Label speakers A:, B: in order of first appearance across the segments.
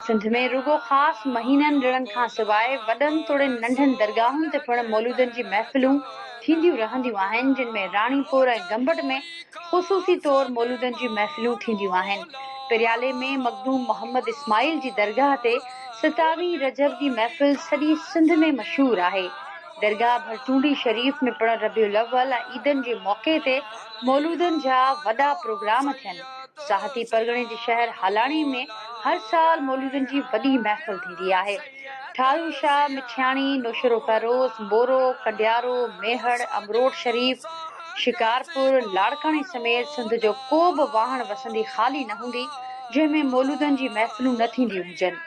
A: سنڌ ۾ رڳو خاص مهينن ڏڻن کان سواء وڏن توڙي ننڍن درگاهن تي پڻ مولودن جي محفلون ٿينديون رهنديون آهن جن ۾ راڻيپور ۽ گمبٽ ۾ خصوصي طور مولودن جي محفلون ٿينديون آهن پريالي ۾ مخدوم محمد اسماعيل جي درگاهه تي ستاويهه رجب جي محفل سڄي سنڌ ۾ مشهور آهي درگاهه ڀرچونڊي شريف ۾ پڻ ربيع الاول ۽ عيدن جي موقعي تي مولودن جا وڏا پروگرام ٿين. ساهتي پرڳڻي جي شهر هالاڻي ۾ هر سال مولودن جي وڏي محفل ٿيندي آهي. ٺارو شاهه، مٺياڻي، نوشهرو فيروز، مورو، ڪنڊيارو، ميهڙ، امروٽ شريف، شڪارپور، لاڙڪاڻي سميت سنڌ جو ڪو به واهڻ وسندي خالي نه هوندي، جنهن ۾ مولودن جي محفلون نه ٿينديون هجن.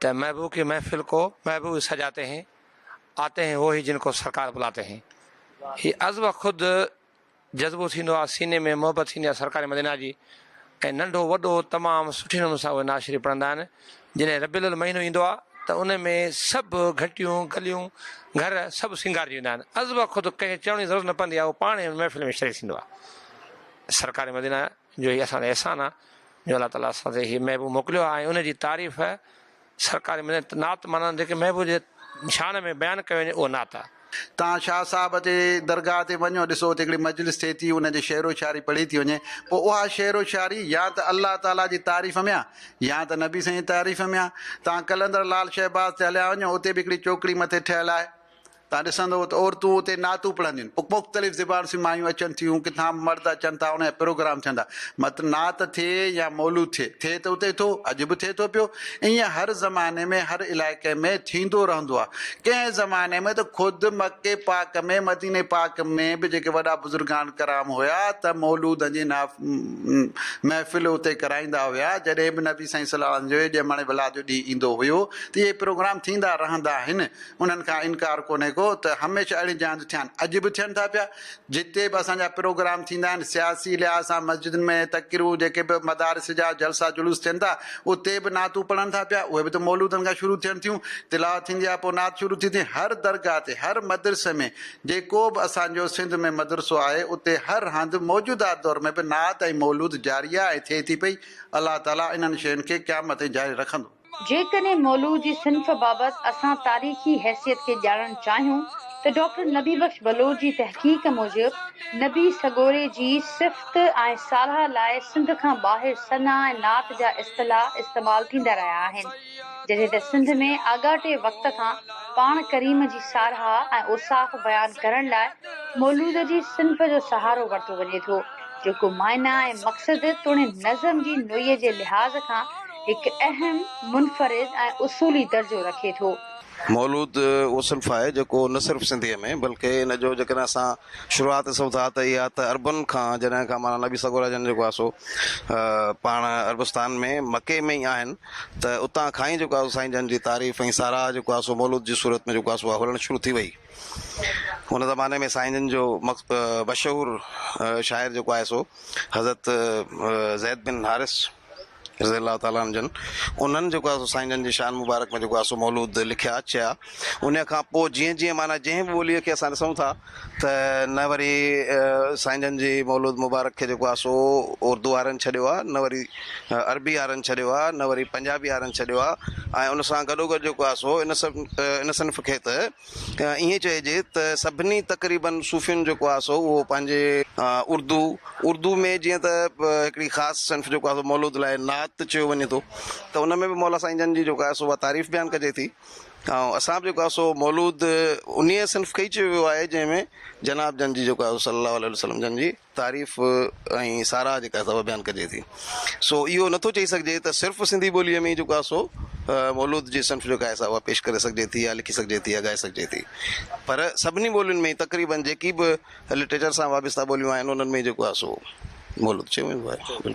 B: ته محبوب ڪي محفل ڪو محبوب سجاتے هين، آتے هين هو هي جن ڪو سرڪار بلاتے هين. هي از و خود جذبو ٿيندو آهي، سيني ۾ محبت ٿيندي آهي سرڪار مدينه جي ۽ ننڍو وڏو تمام سٺي نموني سان اهي نعت شريف پڙهندا آهن. جڏهن ربيع الاول مهينو ايندو آهي ته ان ۾ سڀ گهٽيون، گليون، گهر سڀ سينگارجي ويندا آهن. از و خود ڪنهن کي چوڻ جي ضرورت نه پوندي آهي، اهو پاڻ ان محفل ۾ شريڪ ٿيندو آهي. سرڪار مدينه جو هي اسان تي احسان آ جو الله تعالي اسان تي هي محبوب موڪليو آ ۽ ان جي تعريف سرڪاري مدد نعت معنيٰ جيڪي محبوب جي شان ۾ بيان ڪيو وڃي اهو نعت آ. تان شاهه صاحب
C: جي درگاهه تي وڃو ڏسو اتي هڪڙي مجلس ٿئي ٿي ان جي شعر و شاعري پڙهي ٿي وڃي پوء اها شعر و شاعري يا ته الله تعالي جي تعريف ۾ آ يا ته نبي سائين جي تعريف ۾ آ تان قلندر لعل شهباز تي هليا وڃو اتي به هڪڙي چوڪڙي مٿي ٺهيل آهي تان ڏسندؤ ته عورتون اتي نعتون پڙهنديون، مختلف زبان سين مايون اچن ٿيون، ڪٿان مرد اچن ٿا، انهن جا پروگرام ٿين ٿا. مت نعت ٿئي يا مولود ٿئي، ٿئي ته اتي ٿو، اڄ به ٿئي ٿو پيو. ائين هر زماني ۾ هر علائقي ۾ ٿيندو رهندو آهي. ڪنهن زماني ۾ ته خود مڪي پاڪ ۾ مديني پاڪ ۾ به جيڪي وڏا بزرگان ڪرام هيا ته مولودن جي محفل اتي ڪرائيندا هيا. جڏهن به نبي سائين صلعم جي ڄمڻ ولادت جو ڏينهن ايندو هيو ته اهي پروگرام ٿيندا رهندا آهن. انهن کان انڪار ڪونهي ڪو ته هميشه اهڙي جاين تي ٿيان، اڄ به ٿين ٿا پيا، جتي به اسان جا پروگرام ٿيندا آهن، سياسي لحاظ سان مسجدن ۾ تقريون، جيڪي به مدارس جا جلسا جلوس ٿين ٿا، اتي به نعتون پڙهن ٿا پيا، اهي به ته مولودن کان شروع ٿين ٿيون، تلاوت ٿيندي آهي پوء نعت شروع ٿي ٿي، هر درگاهه تي، هر مدرسي ۾، جيڪو به اسان جو سنڌ ۾ مدرسو آهي، اتي هر هنڌ موجوده دور ۾ به نعت ۽ مولود جاري آهي ۽ ٿئي ٿي پئي، الله تعاليٰ انهن شين کي قيامت تائين جاري رکندو. جيڪڏهن مولوء
A: جي صنف بابت اسان تاريخي حيثيت کي ڄاڻڻ چاهيون ته ڊاڪٽر نبي بخش بلوچ جي تحقيق موجب نبي سڳوري جي صفت ۽ ساراهه لاء سنڌ کان ٻاهر ثنا ۽ نعت جا اصطلاح استعمال ٿيندا رهيا آهن جڏهن ته سنڌ ۾ آڳاٽي وقت کان پاڻ ڪريم جي ساراهه ۽ اوصاف بيان ڪرڻ لاء مولود جي صنف جو سهارو ورتو وڃي ٿو جيڪو معنيٰ ۽ مقصد توڻي نظم جي نوعيت جي لحاظ کان هڪ اهم، منفرد ۽ اصولي درجو رکي ٿو. مولود
D: اهو صنف آهي جيڪو نه صرف سنڌيء ۾ بلڪه ان جو جيڪڏهن اسان شروعات ڏسون ٿا ته اها ته عربن کان جڏهن کان مولانا نبي سڳورا جن جيڪو آهي سو پاڻ عربستان ۾ مڪي ۾ ئي آهن ته اتان کان ئي جيڪو آهي سائين جن جي تعريف ۽ ساراهه جيڪو آهي سو مولود جي صورت ۾ جيڪو آهي سو هلڻ شروع ٿي وئي. ان زماني ۾ سائين جن جو مشهور شاعر جيڪو آهي سو حضرت زيد بن حارث، رضي الله تعالٰي عنه جن انهن جيڪو آهي سو سائين جن جي شان مبارڪ ۾ جيڪو آهي سو مولود لکيا چيا انهيء کان پوء جيئن جيئن معنيٰ جنهن به ٻوليء کي اسان ڏسون ٿا ته نه وري سائين جن جي مولود مبارڪ کي جيڪو آهي سو اردو وارن ڇڏيو آهي نه وري عربي وارن ڇڏيو آهي نه وري پنجابي وارن ڇڏيو آهي ۽ ان سان گڏوگڏ جيڪو آهي سو ان سڀ ان صنف کي ته ائين چئجي ته سڀني تقريباً صوفين جو ڪواس هو اهو پنهنجي اردو اردو ۾ جيئن ته هڪڙي خاص صنف جو ڪواس مولود لاء نعت چيو وڃي ٿو ته ان ۾ به مولا سائين جن جي جو ڪواس اها تعريف بيان ڪجي ٿي ۽ اسان به جو ڪواس اهو مولود انهيء صنف کي ئي چيو ويو آهي جنهن ۾ جناب جن جي جو ڪواس صلّي الله عليه وسلّم جن جي تعريف ۽ ساراهه جيڪا سا اها بيان ڪجي ٿي. سو اهو نٿو چئي سگهجي ته صرف سنڌي ٻوليء ۾ ئي جيڪو آهي سو مولود جي صنف جيڪا آهي سا اها پيش ڪري سگهجي ٿي يا لکي سگهجي ٿي يا ڳائي سگهجي ٿي پر سڀني ٻولين ۾ ئي تقريباً جيڪي به لٽريچر سان وابسته ٻوليون آهن انهن ۾ ئي جيڪو آهي سو مولود چيو ويندو آهي.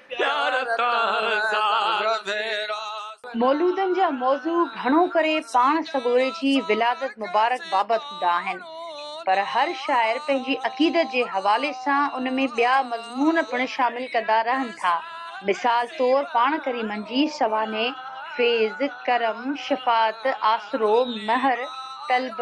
E: پيار تان زار ميرا. مولودن
A: جا موضوع گهڻو ڪري پاڻ سڳوري جي ولادت مبارڪ بابت هوندا آهن، پر هر شاعر پنهنجي عقيدت جي حوالي سان ان ۾ ٻيا مضمون پڻ شامل ڪندا رهن ٿا. مثال طور پاڻ ڪريمن جي سوانح، فيض، ڪرم، شفاعت، آسرو، مهر، طلب،